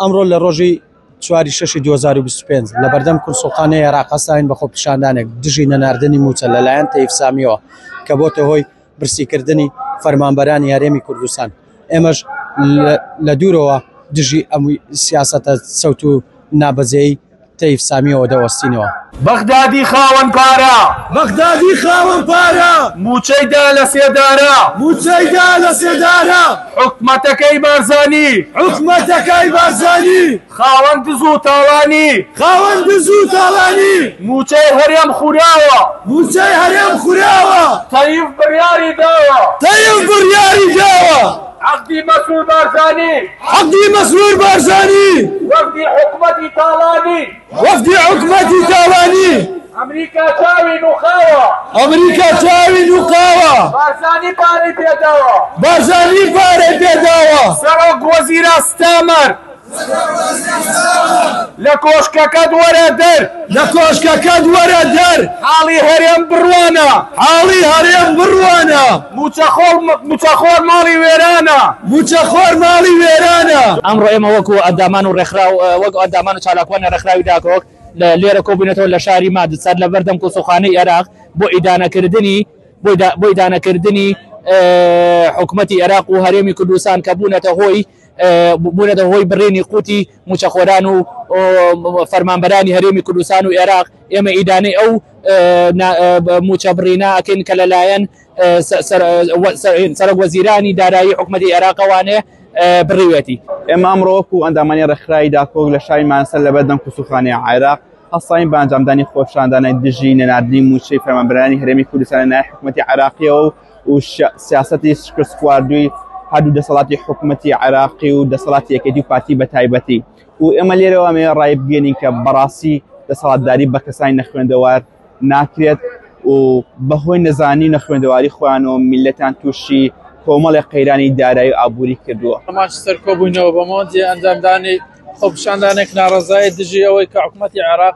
ئەمڕۆ لە ڕۆژی چواری شەشی 2025 لە بەردەم کورسوقانە عێراقەساین بە خۆپیشاندانێک دژی نەناردنی موچە لەلایەن تەیفسامیەوە کە بۆتە هۆی برسیکردنی فەرمانبەرانی هەرێمی کوردستان ئێمەش لە دوورەوە دژی ئەم سیاسەتە سەوت و نابەجێی تەیف سامیەوە دەوەستینەوە. بەغدادی خاوەن پارە. بەغدادی خاوەن پارە. مووچەی دا لە سێدارە. مووچەی دا لە سێدارە. حکومەتەکەی بارزانی. حکومەتەکەی بارزانی. خاوەن دز و تاڵانی. خاوەن دز و تاڵانی. مووچەی هەرێم خوراوە. مووچەی هەرێم خوراوە. تەیف بڕیاری داوە. تەیف بڕیاری داوە. عەقدی مەسرور بارزانی. عەقدی مەسرور بارزانی. وەفدی حکومەتی تاڵانی. وەفدی حکومەتی تاڵانی. ئەمریکا چاوی نووقاوە. ئەمریکا چاوی نووقاوە. بارزانی پارەی پێداوە. بارزانی پارەی پێداوە. سەرۆک وەزیران ستامەر. لە کۆشکەکەت وەرە دەر. لە کۆشکەکەت وەرە دەر. حاڵی هەرێم بڕوانە. حاڵی هەرێم بڕوانە. مووچەخۆر ماڵی وێرانە. مووچەخۆر ماڵی وێرانە. ئەمڕۆ ئێمە وەکو ئەندامان و ڕێکخراو وەک ئەندامان و چالاکوانی ڕێکخراوی داکۆک لێرە کۆبووینەتەوە لە شاری ماد سەر لە بەردەم کونسوڵخانەی ئێراق بۆ ئیدانەکردنی بۆ ئیدانەکردنی حکومەتی ئێراق و هەرێمی کوردستان کە بوونەتە هۆی بوونەتە هۆی بڕینی قوتی مووچەخۆران و فەرمانبەرانی هەرێمی کوردستان و عێراق، ئێمە ئیدانەی ئەو مووچە بڕینە ئەکەین کە لەلایەن سەرۆک وەزیرانی دارایی حکومەتی عێراقەوانێ بڕیوێتی. ئێمە ئەمڕۆ وەکو ئەندامانی ڕێکخراوی داکۆک لە شاری مانسەر لەبەردەم کسوخانەی عێراق هەستاین بە ئەنجامدانی خۆپیشاندانە دژی نەناردنی مووچەی فەرمانبەرانی هەرێمی کوردستان لەلایەن حکومەتی عێراقیەوە و و سیاسەتی شکستخواردووی هەردوو دەسەڵاتی حکومەتی عێراقی و دەسەڵاتی یەکێتی و پارتی بە تایبەتی و ئێمە لێرەوە مێ ڕای بگەێنین کە بەڕاستی دەسەڵاتداری بە کەسانی نەخوێندەوار ناکرێت و بەهۆی نەزانی نەخوێندەواری خۆیان و میلەتان تووشی کۆمەڵی قەیرانی دارایی و ئابووری کردووە ئەماش سەرکۆبووینەوە بەمەوەندی ئەنجامدانی خۆپشاندانێک ناڕزای دژی ئەوەی کە حکوومەتتی عێراق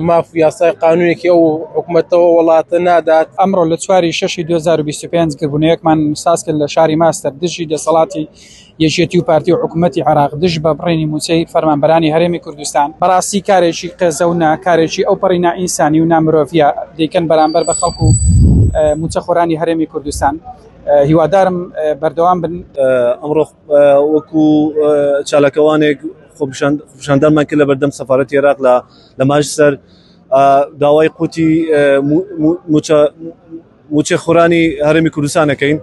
ماف و یاسای قانونێکی ئەو حکومەتە و وڵاتە نادات. ئەمڕۆ لە چواری شەشی 2025 گربوونەیەکمان ساز کرد لە شاری ماستەر دژی دەسەڵاتی یەکێتی و پارتی و حکوومەتی عێراق دژ بە بڕینی مووچەی فەرمانبەرانی هەرێمی کوردستان بەڕاستی کارێکی قێزەونە کارێکی ئەو پەڕی نائینسانی و نامرۆڤە دەیکەن بەرامبەر بە خەڵک و مووچەخۆرانی هەرێمی کوردستان هیوادارم بەردەوام بن ئەمڕۆ وەکو چالاکەوانێک خۆپیشاندانمان کرد لە بەردەم سەفارەتی عێراق لە ماجسەر داوای قوتی موچە خورانی هەرمی کوردستانەکەین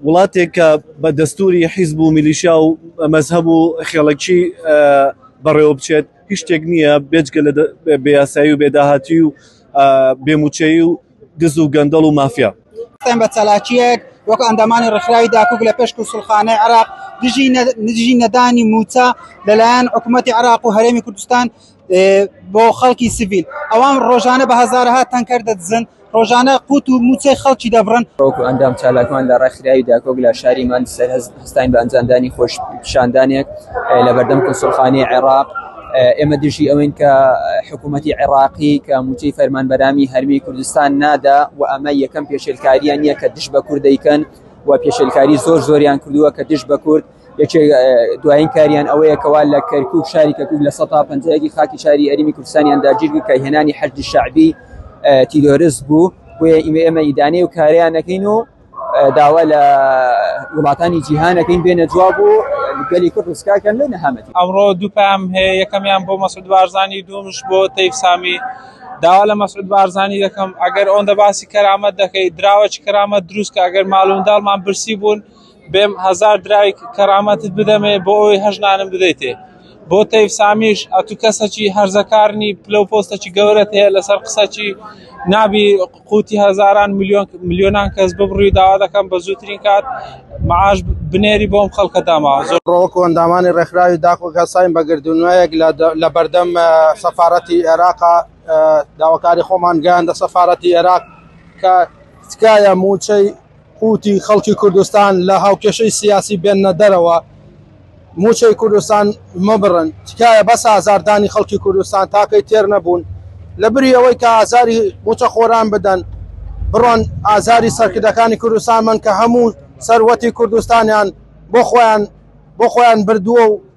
وڵاتێک کە بە دەستوری حیزب و میلیشیا و مەذهب و خێڵکی بەڕێوە بچێت هیچ شتێک نییە بێجگە لە بێیاسایی و بێداهاتی و بێموچەی و دز و گەندەڵ و مافیا قسەم بە چالاکیەک وەک ئەندامانی ڕخراوی داکوک لە پێش کوسڵخانەی عراق دژی نەدانی موچە لەلایەن حکوومەتتی عراق و هەرێمی کوردستان بۆ خەڵکی سڤیل ئەوان ڕۆژانە بە هزارها تەنکەر دەدزن ڕۆژانە قوت و موچەی خەڵکی دەبڕن ڕۆک و ئەندام چالاکمان لە ڕێکخراوی داکۆک لە شاری ماند سەرهەست ستاین بە ئەنجامدانی خۆپیشاندانێک لەبەردەم کونسوڵخانەی عێراق ئێمە دژی ئەوین کە حکوومەتی عێراقی کە موچەی فەرمانبەرامی هەرمی کوردستان نادا و ئەمە یەکەم پێشێلکاریان نیە کە دش بە کورد دەیکەن و پێشێلکاری زۆر زۆریان کردووە کە دش بە کورد یەکێک دوایین کاریان ئەوەیە کەوا لە کەرکک شاری کەکوک لە سە پنجەیەکی خاکی شاری ئەریمی کوردستانیان داگیر کە هێنانی حەجدی شعبی تیرۆرس بوو بۆیە ئیمە ئێمە ئیدانەی و کاریان نەکەین و داوا لە وڵاتانی جیهان دەکەین بێنە جواب و گەلی کورد ڕزگارکەن لە نەهامەتی ئەمڕۆ دوو پام هەیە یەکەمیان بۆ مەسعود بارزانی دومش بۆ تەیف سامی داوا لە مەسعود بارزانی دەکەم ئەگەر ئەوەندە باسی کەرامەت دەکەی دراوەچ کەرامەت دروست کە ئەگەر ماڵونداڵمان برسی بوون بێم هزار درای کەرامەتت بدەمێ بۆ ئەوی هەژنانم بدەیتێ بۆ تەیف سامیش ئەتو کەسەکی هەرزەکارنی پلە و پۆستەکی گەورەت هەیە لەسەر قسەکی نابی قوتی هەزاران ملیۆن ملیۆنان کەس ببڕی و داوا دەکەم بە زووترین کات معاش بنێری بۆم خەڵکە داماوە زۆر ڕۆکو ئەندامانی ڕێکخراوی داخ و کەساین بە گردونوەیەک لە بەردەم سەفارەتی ئێراق داواکاری خۆمان گەیاندە سەفارەتی ئێراق کە تکایە مووچەی قوتی خەڵکی کوردستان لە هاوکێشەی سیاسی بێننە دەرەوە موچەی کوردستان مەبڕن تکایە بەس ئازار دانی خەڵکی کوردستان تاکەی تێر نەبوون لە بری ئەوەی کە ئازاری موچە خۆران بدەن بڕۆن ئازاری سەرکردەکانی کوردستان من کە هەموو سەروەتی کوردستانیان بۆ خۆیان بۆ خۆیان بردووە و